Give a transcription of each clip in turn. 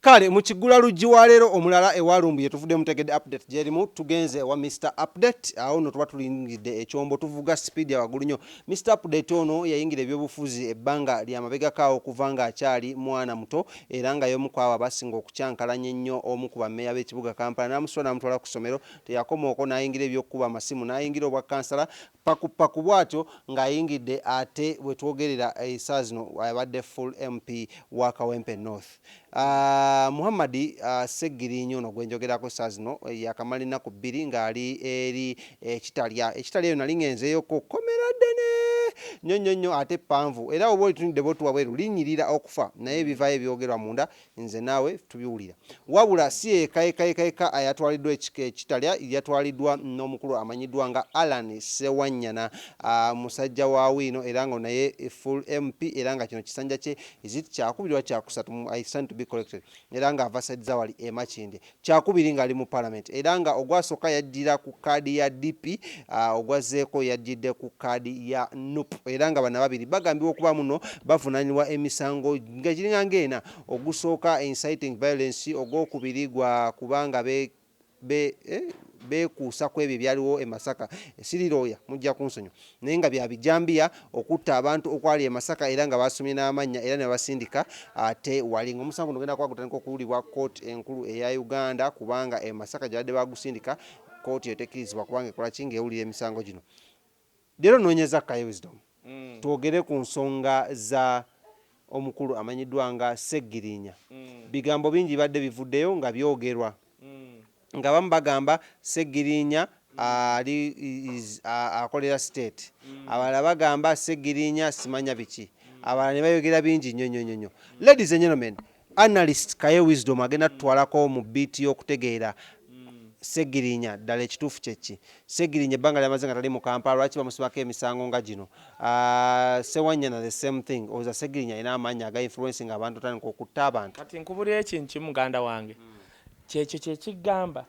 Kale mu kigula lujji wa leero omulala ewa Lumbuye tuvudde mutegedde update gyerimu tugenze ewa Mister update awo no tuba tulingidde ekyombo tuvuga speed ya wagulu nyo Mister update ono yayingira ebyobufuzi ebbanga lya mabegako awo okuva nga akyali mwana muto era nga yomu kwabo abasinga okukyankalanya ennyo omu ku ba meya b'ekibuga Kampala namusitula namutwala ku somero teyakomaoko nayingira ebyokukuba amasimu nayingira obwa kansala Paku paku bwatyo nga ayingidde ate wetwogerera esaa zino abadde full MP wa Kawempe North. Muhammad Ssegiriinya ono gwenjogerako esaa zino yakamala ennaku bbiri nga ali eri e Kitalya. E Kitalya eyo nali ngenzeeyo ko kkomera ddene nyo nyo nyo ate ppanvu era woba olitunudde bwottu wabweru linyirira okufa naye ebivaayo ebyogerwa munda Nze naawe tubiwulira. Wabula si yeka yeka yeka yeka ayatwaliddwa ekika ekitalya, yatwaliddwa n'omukulu amanyiddwa nga Allan Ssewanyana, musajja wa Wiino era nga naye full MP era nga kino kisanja kye is it kyakubiri oba kyakusatu, I stand to be corrected, era nga ava side za wali e Makindye. Kyakubiri ng'ali mu Palamenti era nga ogwasooka yajjira ku kkaadi ya DP, ogwazzeeko yajjidde ku kkaadi ya nup era nga bano ababiri bagambibwa okuba muno bavunaanibwa emisango nga giringa ng'ena, ogusooka inciting violence, ogwokubiri gwa kuba nga beekuusa kw'ebyo ebyaliwo e Masaka. Siri looya mujja kunsonyiwa. naye nga bya bijambiya okutta abantu okwali e Masaka era nga baasomye n'amannya era ne babasindika ate wali ng'omusango guno genda kuba gutandika okuwulirwa kkooti enkulu eya Uganda kubanga e Masaka gye babadde baagusindika kkooti eyo tekkirizibwa kubanga ekola ki ng'ewulira emisango gino leero noonyeza Kaye Wisdom mm. twogere ku nsonga za omukulu amanyiddwa nga Sseggirinya. Bigambo bingi bibadde bivuddeyo nga byogerwa ng'abamu bagamba Sseggirinya ali is akolera state, abalala bagamba Sseggirinya simanya biki, abalala ne bayogera bingi nnyo nnyo nnyo. Ladies and gentlemen, Analyst Kaye Wisdom agenda tutwalako mu bbiiti y'okutegeera Ssegirinya ddala ekituufu kye ki? Ssegirinya ebbanga lyamaze nga tali mu Kampala lwaki bamusibako emisango nga gino? Ssewanyana the same thing, olowooza Ssegirinya alina amaanyi aga influencing abantu otandika okutta abantu? Kati nkubulire ekintu kimu muganda wange, kyekyo kyekigamba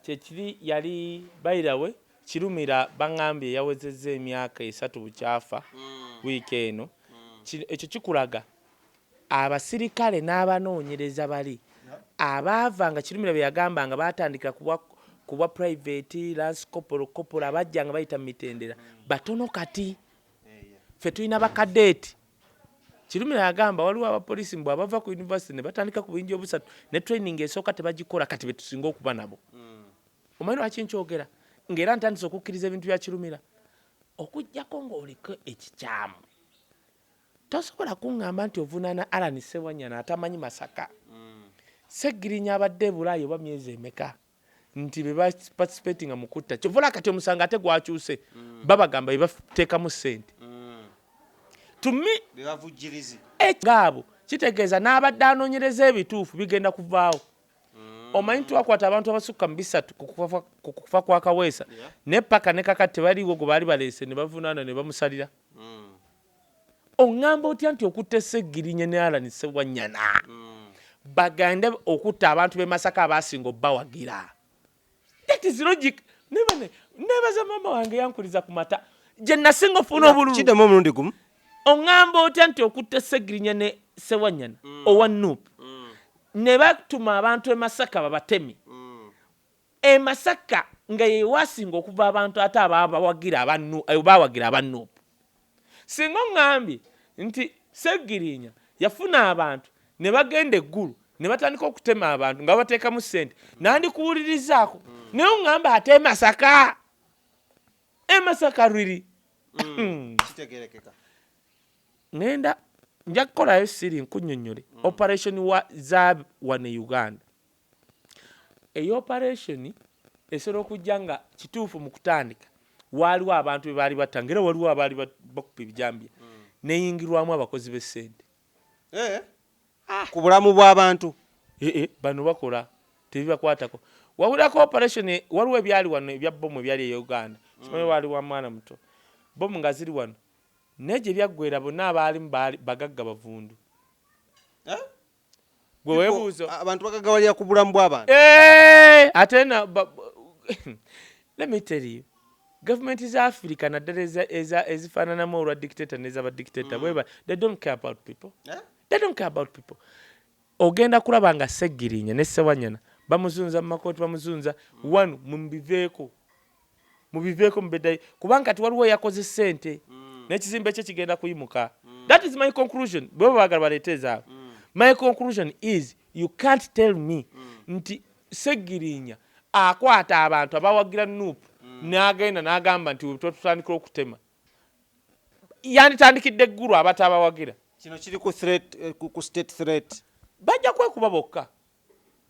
kyekiri yali by the way Kirumira bangambye yawezezza emyaka esatu bukyafa week eno, ekyo kikulaga Abasirikale n'abanoonyereza bali abaava nga Kirumira be yagamba nga baatandikira ku bwa ku bwa Purayiveti, Lansi Kopolo, Kopolo abajja nga bayita mu mitendera batono kati. Ffe tulina bakadeeti. Kirumira yagamba waliwo abapoliisi mbu abava ku yunivasite ne batandika ku buyinja obusatu ne training esooka tebagikola kati be tusinga okuba nabo. Omanyi lwaki nkyogera? Ng'era ntandise okukkiriza ebintu bya Kirumira okuggyako ng'oliko ekikyamu. Tosobola kungamba nti ovunaana Allan Ssewanyana atamanyi Masaka. Ssegirinya abadde e Bulaaya oba myezi emeka nti be ba participatinga mu kutta. Kyova olaba kati omusango ate gwakyuse. Babagamba be bateekamu ssente. To me, ekyo nga abo kitegeeza n'abadde anoonyereza ebituufu bigenda kuvaawo. Omanyi twakwata abantu abasukka mu bisatu ku kufa kwa Kaweesa naye ppaka ne kakati tebaliiwo gwe baali baleese ne bavunaana ne bamusalira. Ongamba otya nti okutte Ssegirinya ne Allan Ssewanyana bagande okutta abantu be Masaka abaasinga obawagira? That is logic. Nebaza mama wange yankuliza ku mata gye nasinga ofuna obululu. Kiddemu omulundi gumu. Ongamba otya nti okutte Ssegirinya ne Ssewanyana mm. owa Nup mm. ne batuma abantu e Masaka babatemi mm. E Masaka nga yewaasinga okuva abantu ate abawagira aba bawagira aba nup. Singa ongambye nti Ssegirinya yafuna abantu ne bagenda e Gulu ne batandika okutema abantu nga babateekamu ssente nandikuwulirizaako naye ongamba ate e Masaka? E Masaka really? Kitegeerekeka. Ngenda nja kukolayo siri nkunnyonnyole operation wa za wano e Uganda. Eyo opareesoni esobola okujja nga kituufu mu kutandika waaliwo abantu be baali batta ng'era waliwo abaali bakuba ebijambiya neyingirwamu abakozi b'essente eh, ah. ku bulamu bw'abantu ee eh, eh, bano bakola tebibakwatako wawulirako operation e, waliwo ebyali wano ebya bomu ebyali e uganda simanyi mm. waali wa mwana muto bomu nga ziri wano naye gye byaggwera bonna abaalimu bagagga bavundu eh? gwe webuuzo abantu bagagawalira ku bulamu bw'abantu eh, ate na let me tell you gavumenti za afirika naddala ezifaananamu olwa dictator neza badictator mm. weba they don't care about people eh? they don't care about people ogenda kulaba nga seggirinya ne sewanyana bamuzunza mu makooti bamuzunza one mubiveeko mubiveeko mubedayo kubanga kati waliwo eyakoze sente mm. nekizimbe kye kigenda kuyimuka mm. that is my conclusion bwebo bagala baleeta ezaabwe mm. my conclusion is you can't tell me mm. nti segirinya akwata abantu abawagira nup mm. nagenda nagamba nti twetutandikira okutema yanditandikidde eggulu abatabawagira kino kiri ku eh, state threat bajja kwekuba bokka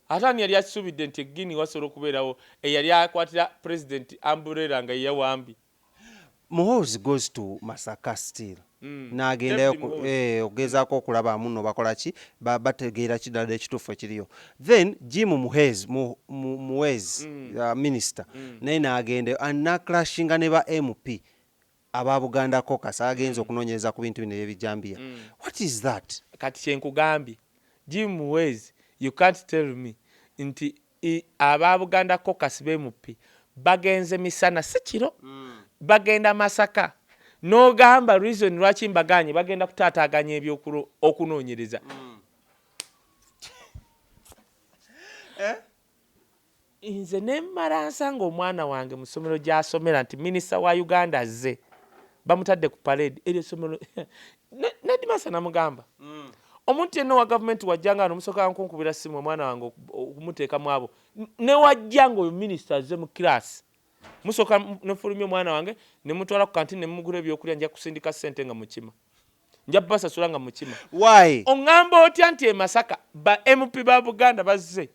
Ate ani yali akisuubidde nti e Guinea wasobola okubeerawo eyali akwatira Pulezidenti Umbrella nga ye yawambi? Muhoozi goes to Masaka still n'agendayo David Muhoozi. eeh okugezaako okulaba munno bakola ki, ba bategeera ki ddala ekituufu ekiriyo. Then Jim Muheezi, Mu, Mu, Muhwezi, Minister naye n'agendayo and n'aclashinga ne ba MP aba Buganda caucus agenze okunonyereza ku bintu bino ebyebijambiya what is that? Kati kyenkugambye Jim Muhwezi you can't tell me nti aba Buganda caucus bemup bagenze misana si kiro bagenda Masaka nogamba reason lwaki mbaganye bagenda kutaataganya ebyo okunonyereza. Nze ne mmala nsanga omwana wange mu ssomero gy'asomera nti minisita wa Uganda azze, bamutadde ku paleedi. Eryo essomero ne nedimaster namugamba omuntu yenna owa gavumenti w'ajja nga wano musooka nkunkubira ssimu omwana wange okumuteeka mu abo ne w'ajja ng'oyo minisita azze mu kiraasi musooka ne mfulumya omwana wange ne mutwala ku kantini ne mumugula ebyokulya nja kusindika ssente nga mukima nja basasula nga mukima. Why? Ong'amba otya nti e Masaka ba MP ba Buganda bazze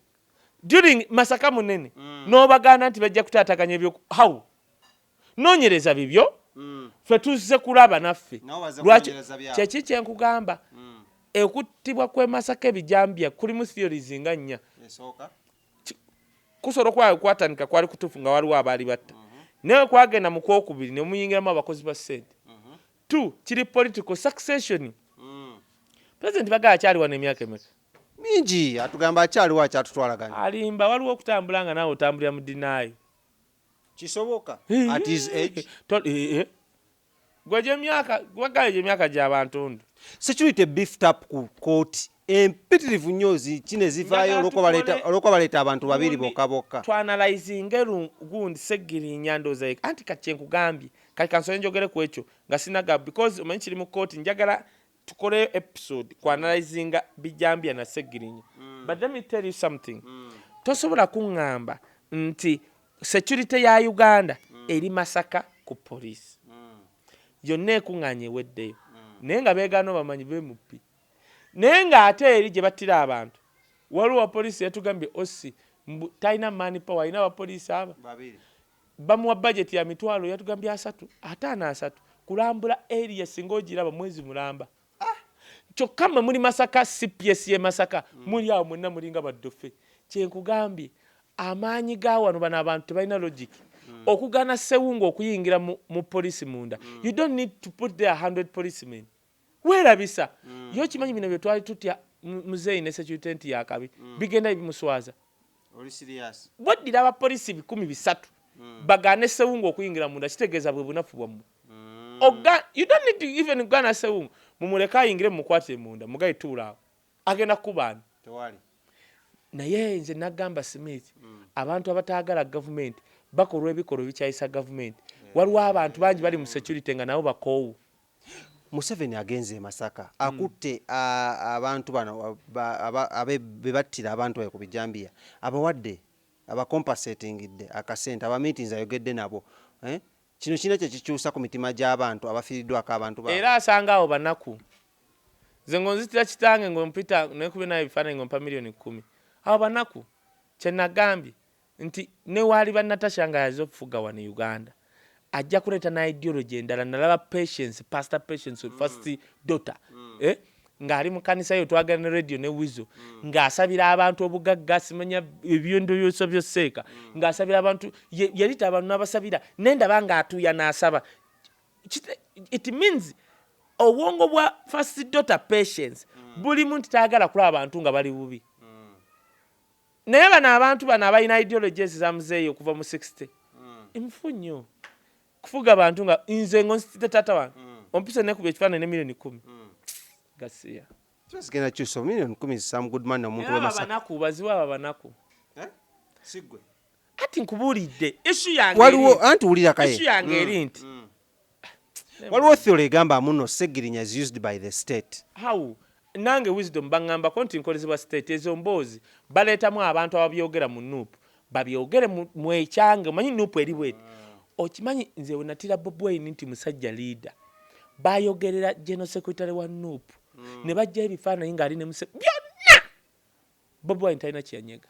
during masaka munene mm. nobaganda nti bajja kutataganya ebyo how nonyereza bibyo mm. fe tuzze kulaba naffe lwaki kyeki kyenkugamba mm. ekuttibwa kwemasaka ebijambya kulimu theories nga nnya kusobola okuba kwatandika kwali kutuufu nga waliwo abaali batta mm -hmm. naye kwagenda mu kwokubiri ne muyingiramu abakozi ba sente mm -hmm. t kiri political succession mm. president baga akyali wano emyaka emeka mingi atugamba akyaliwo akyatutwala gani alimba waliwo okutambula nga naawe otambulira mu dinaayo kisoboka at his age eh, eh. gwe gyemyaka gwagala gyemyaka gyabantundu security beef tap ku kooti empitirivu nnyo kino ezivaayo olwokuba baleeta abantu babiri bokka bokka twanalizinga gundi segirinya ndooza yeka anti kati kyenkugambye kati kansole njogere ku ekyo nga sinaga because omanyi kiri mu kooti njagala tukoleyo episode ku analyzinga bijambya na segirinya mm. but let me tell you something mm. tosobola kuŋŋamba nti security ya uganda mm. eri masaka ku poliisi mm. yonna ekuŋŋaanya eweddeyo mm. naye nga beegaana bamanyi bemupi naye ng'ate eri gye battira abantu waliwo wapoliisi yatugambye osi talina mani power alina abapoliisi abo Bamuwa budget ya mitwalo yatugambye asatu, ataano asatu kulambula area singa ogiraba mwezi mulamba. Kyokka mwe muli Masaka cps ye Masaka muli awo mwenna mulinga ba ddofe. Kyenkugambye amaanyi ga wano bano abantu tebalina logic. Okugaana Ssewungu okuyingira mu police munda you don't need to put there hundred policemen. Werabisa mm. yo kimanyi bino byetwali tutya muzeeyi ne security nti yakabi mm. bigenda ebimuswaza bweddira abapolisi bikumi bisatu mm. bagaane sewungu okuyingira munda kitegeeza bwe bunafu bwammwe mm. oga you don't need to even gana sewungu mumuleke ayingire mumukwatire munda mugayi tuulaawo agenda kukubaani naye nze nagamba smith mm. abantu abataagala gavumenti bakolwa ebikolwa ebikyayisa gavumenti yeah. waliwo abantu bangi bali mu security nga nabo bakoowu Museveni agenze e Masaka hmm. akutte abantu bano bebattira abantu bayo ku bijambiya abawadde abakompasetingidde akasente abamiitinzi ayogedde nabo eh? kino kirina kyekikyusa ku mitima gy'abantu abafiiriddwako abantu ba era asanga awo banaku nze ngonzitira kitange ngompita nekubenayo ebifaananyi ngompa miliyoni kumi awo banaku kyenagambye nti newaaliba Natasha nga yaze okufuga wano Uganda ajja kuleeta na ideology endala nalaba patience pastor patience mm. first daughter mm. eh? ng'ali mu kanisa yo twagala ne radio ne wizo mm. ng'asabira abantu obugagga asimanya ebyendowooza byosseeka mm. ng'asabira abantu yalita abantu n'abasabira naye ndaba ng'atuuya n'asaba it means obwongo bwa first daughter patience mm. buli muntu taagala kulaba abantu nga bali bubi Naye bano abantu bano abalina ideologies za muzeeyi okuva mu 60 nfu nnyo kufuga bantu nga nze ngonsitidde taata wange ompise nekuba ekifaananyi ne milioni kumi gasiya zigenda kyusa milioni kumi sam goodman omuntu webanaku bazibu abo abanaku eh? sigwe kati nkubuulidde isu yange waliwo anti wulira kaye isu yange eri nti Waliwo theory egamba muno Ssegirinya is used by the state. How? Nange wisdom bangambako nti nkolezebwa state ezo mboozi baleetamu abantu ababyogera mu nup babyogere mu ekyange omanyi nup eri bweti okimanyi nze wenatira bobi wine nti musajja leader bayogerera general secretary wa nup nebajjayo ebifaananyi nga ali ne museveni byonna Bobi wine talina kyeyanyega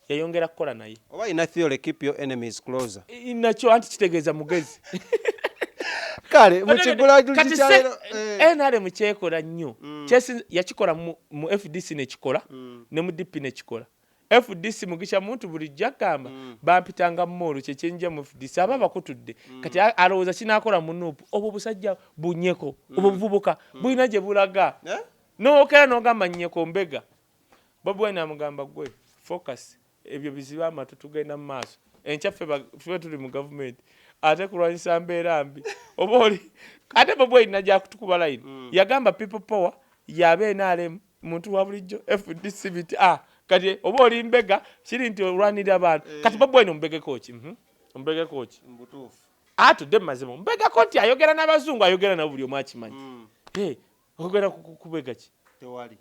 yayongera kukola naye oba ina theory keep your enemies closer nakyo anti kitegeeza mugezi kale mukigula kati se eh. nrm kyekola nnyo mm. kyesi yakikola mu fdc nekikola mm. ne mu dp nekikola fdc mugisha muntu buli jagamba mm. bampitanga mmoolo kyekyenja mu fdc aba bakutudde kati alowooza kinakola mu nup obwo busajja bunyeko obwo buvubuka bulina gye bulaga eh? Nowokera nogamba nyeko mbega. Bobi Wine amugamba gwe focus ebyo bizibe amatu tugenda mu maaso. Enkya ffe tuli mu gavumenti ate kulwanyisa mbeera mbi oba oli ate Bobi Wine najja kutukuba line mm. yagamba people power yabe NRM muntu wa bulijjo FDC biti ah kati oba oli mbega kiri nti olwanirira abantu eh. kati Bobi Wine ombegeko ki mhm. ombegeko ki mbutuufu atudde ah, mu mazima ombegako nti ayogera n'abazungu ayogera nabo buli omu akimanyi mm. Ogera kukubega ki? Tewali.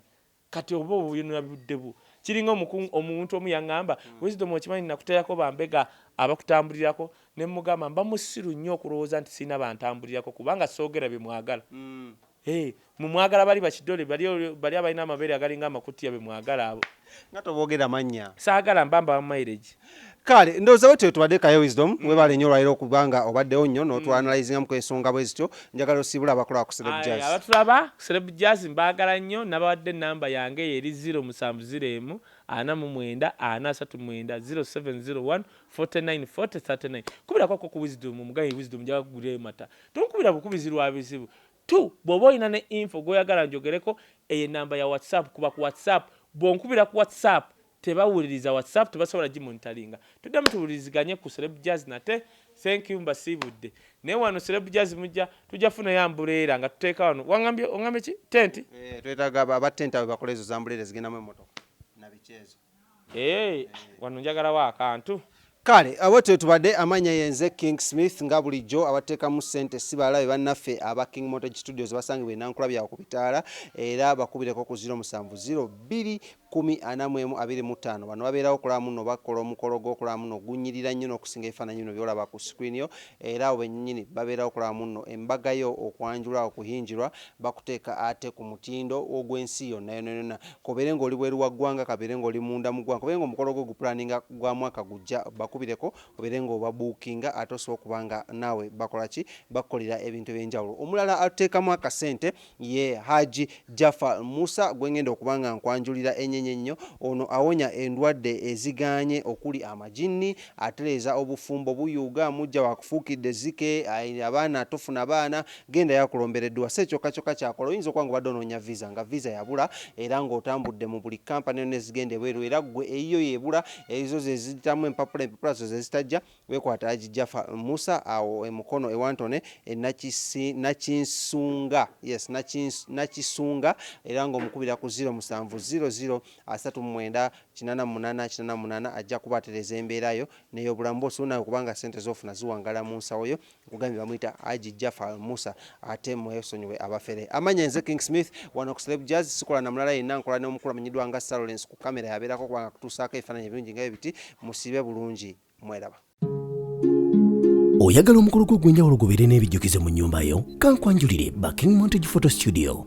Kati oba obuyonera budde bu. Kiringa omukungu omuntu omu yangamba, hmm. Wisdom okimanyi nakuteyako bambega abakutambulirako ne mugamba mba musiru nnyo okulowooza nti sirina bantambulirako kubanga soogera bye mwagala. Hmm. Eh, mumwagala bali bakidole bali bali abalina amabeere agalinga amakutiya be mwagala abo. Nga tobogera mannya. Saagala mba mbawa mileage. Kale ndowoza wetyo wetubadde Kaye Wisdom mm. webale nyo olwalero okubanga obaddewo nyo notwanalizingamu mm. kwesonga bwezityo njagala osiibula abakulaba ku Celeb Jazz abatulaba ku Celeb Jazz mbagala nyo nabawadde namba yange eyo eri 0 musanvu 0 emu ana mu mwenda ana asatu mwenda 0701 49 40 39 kubirako ko ku Wisdom omugayi Wisdom njaga kugulirayo mata tonkubira bukubizi lwa bizibu Tu, Bwoba olina ne info gwoyagala njogereko, eyo enamba ya WhatsApp kuba ku WhatsApp bwonkubira ku WhatsApp tebawuliriza WhatsApp tebasobola gimonitalinga. Tuddemu tuwuliriziganye ku Celeb Jazz nate. Thank you mbasiibudde. Naye wano Celeb Jazz mujja tujja funayo ambuleera nga tuteeka wano. Wangambye ongambye ki? Tent? Eeh twetaaga aba tent abo bakole ezo zambuleera ezigendamu emotoka nabiki ezo. Eeh wano njagalawo akantu. Kale bwetyo bwetubadde amannya yenze king Smith nga bulijjo abateekamu ssente ssi balala be bannaffe aba king mortage studios basangibwa e Nankulabye awo ku bitaala era bakubireko ku ziro musanvu ziro bbiri kkumi ana mu emu abiri mu ttaano bano babeerawo okulaba munno oba kola omukolo gwo okulaba munno gunnyirira nnyo n'okusinga ebifaananyi bino byolaba ku screen yo era abo benyinyini babeerawo okulaba munno embaga yo okwanjula okuyinjirwa bakuteeka ate ku mutindo ogw'ensi yonnayonoyonna kobeere nga oli bweru wa ggwanga kabeere nga oli munda mu ggwanga kobeere nga omukolo gwo gupulaninga gwa mwaka gujja bakubireko obeere nga obabuukinga ate osobole okuba nga naawe bakola ki bakukolera ebintu ebyenjawulo omulala atuteekamu akasente ye Hajji Jafar Musa gwengenda okuba nga nkwanjulira enyenye ennyo ono awonya endwadde ezigaanye okuli amajinni atereeza obufumbo buyuuga muggya wakufuukidde ezzike abaana tofuna baana Genda yakulombera edduwa si ekyokka kyokka kyakola oyinza okuba nga obadde onoonya visa nga visa yabula era nga otambudde mu buli company yonna ezigenda ebweru era ggwe eyiyo yebula ezo zeziyitamu empapula empapula zo zezitajja wekwata Haji Jafar Musa awo e Mukono e Wantone e Nakisi Nakinsunga yes Nakins Nakisunga era nga omukubira ku ziro musanvu ziro ziro asatu mu mwenda kinana mu munana kinana mu munana ajja kuba atereza embeera yo neyobulamu bwo so nawe kubanga sente zofuna ziwangala munsawo yo Nkugambye bamuyita Haji Jafar Musa ate mwesonyiwe abafere. Amanya nze King Smith wano ku Celeb Jazz sikola na mulala yenna nkola ne omukulu amanyidwa nga Salolence ku camera yaberako kuba nga kutusaako ebifananyi ebirungi nga bwebiti musiibe bulungi mwelaba. Oyagala omukolo gwo ogwenjawulo gubeere n'ebijjukizo mu nnyumba yo? Kankwanjulire ba King Montage Photo Studio.